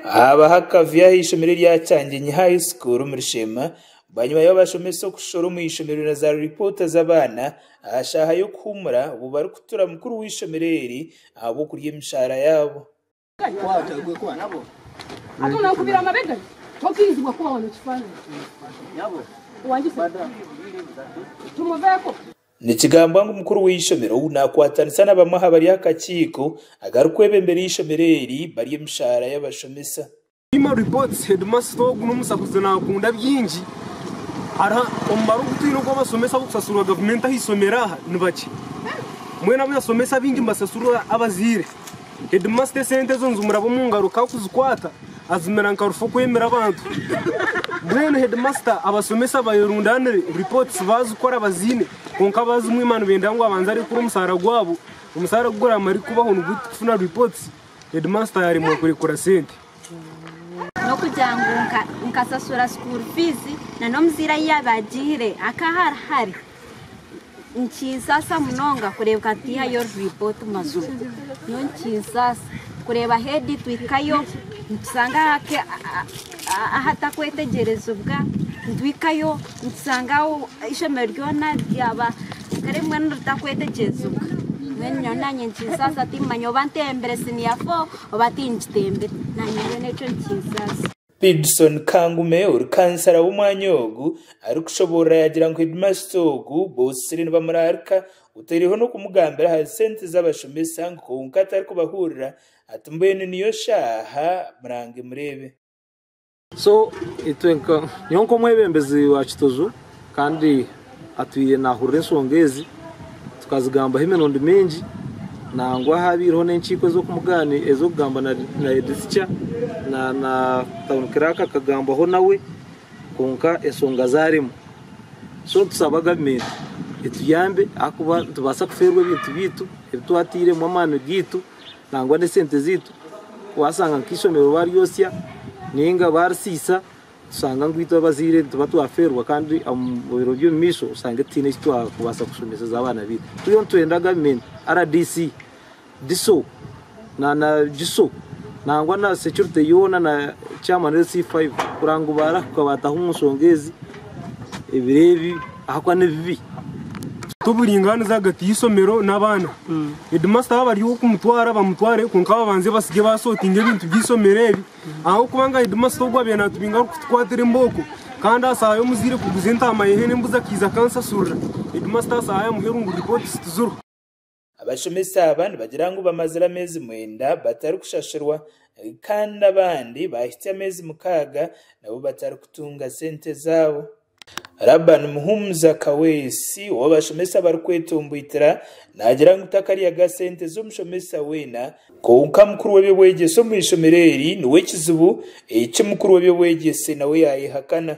Haabaho akavuyo aha ishomero erya Kyanjenyi High School omu Rushema bwanyima y'abashomesa okushoroora omu ishomero na zaari ripoota z'abaana aha shaaha y'okuhuumura obu barikutura mukuru w'eishomero eri ahabw'okurya emishaara yaabo. Nikigambwa ngu mukuru w'eishomero naakwatanisa na bamwe aha bari aha kakiiko akarikwebembera eishomero eri barye emishaara y'abashomesa. Human Reports, Hedimasita ogu n'omusahuzi naakunda bingi. Hariho omubare ogu twine ogw'abashomesa ab'okusasurwa gavumenti aha ishomero aha ni bakye. Mbwenu abu yashomesa baingi nibasasurwa abazaire. Hedimasita esente ezo nizimuraba omu ngaro kandi kuzikwata azimira nka rufu okwemera abantu. Mbwenu hedimasita abashomesa bayerundaanire ripooti zi baazikora baziine kwonka abaazimwima nibenda ngu abanze arekure omushaara gwabo. Omushaara gu guraamare kubaho nibwo turikufuna ripooti Heedimaasita yaaremwa kurekura sente. N'okugira ngu nkasasura sukuuru fiizi na n'omuzaire ahi yaabaire agiire akaba ari hare, nikinsaasa munonga kureebeka ngu teihayo ripooti mazima. Nyowe nikinsaasa kureeba heedi twahikayo nitushanga ahatakwetegyerezibwa, nitwahikayo. Nitushanga eishomero ryona ryaba kare mbwenu ritakwetegyesibwa. Mbwenu nyowe naanye nikinsaasa timmanya oba ntembire siniya fo oba tingitembire. Naanye mbwenu ekyo nikinsaasa. Pidson Kangume ori kansara w'omwanya ogu arikushoboorora yaagira ngu hedimasita ogu bootsire nibamuraarika oteireho n'okumugambira aha sente z'abashomesa ngu kwonka atarikubahuurira ati mbwenu niyo shaaha murange mureebe. So itwe nka nyowe nk'omwebembezi wa Kitojo kandi atwire nahurira ensonga ezi tukazigambaho emirundi mingi nangwa habaireho n'enkiiko ez'okugamba na na Head Teacher na na Town Clerk akagambaho nawe kwonka ensonga zarimu. So nitusaba government etuyambe ahakuba nitubaasa kufeerwa ebintu byaitu ebi twatairemu amaani gaitu Nangwa n'esente zaitu waashanga nk'eishomero baaryotsya nainga baarisiisa, tushanga ngu itwe abazaire nituba twafeerwa kandi omu biro by'omumaisho oshange tutaine eki twakubaasa kushomeseza abaana baitu. Twena nitwenda gavumenti, rdc, DISO, GISO nangwa na securite yoona na chairman LC5 kureba ngu baarahuka baataha omu nshonga ezi. Ebiro ebi ahakuba n'ebibi, tituburingaaniza ahagati y'eishomero n'abaana. Hedimasita waaba ari ow'okumutwara bamutware kwonka babanze basingye baasootinga ebintu by'eishomero ebi ahabw'okuba nga hedimasita ogu abaire naatubinga arikutukwatira embooko kandi aha shaaha y'omuzaire kuguza entaama y'ehe n'embuzi akaiza akanshasurira. Hedimasita aha shaaha amuhe erungu ripooti zituzirwe. Abashomesa aba nibagira ngu bamazire ameezi mwenda batarikushashurwa kandi abandi baahitsya ameezi mukaaga nabo batarikutunga sente zaabo. Laban Muhumuza Kaweesi ow'abashomesa abarikwetomboitira naagira ngu takaryaga sente z'omushomesa weena, kwonka mukuru w'eby'obwegyese omu ishomero eri niwe kizibu eki mukuru w'eby'obwegyese nawe yaayehakana.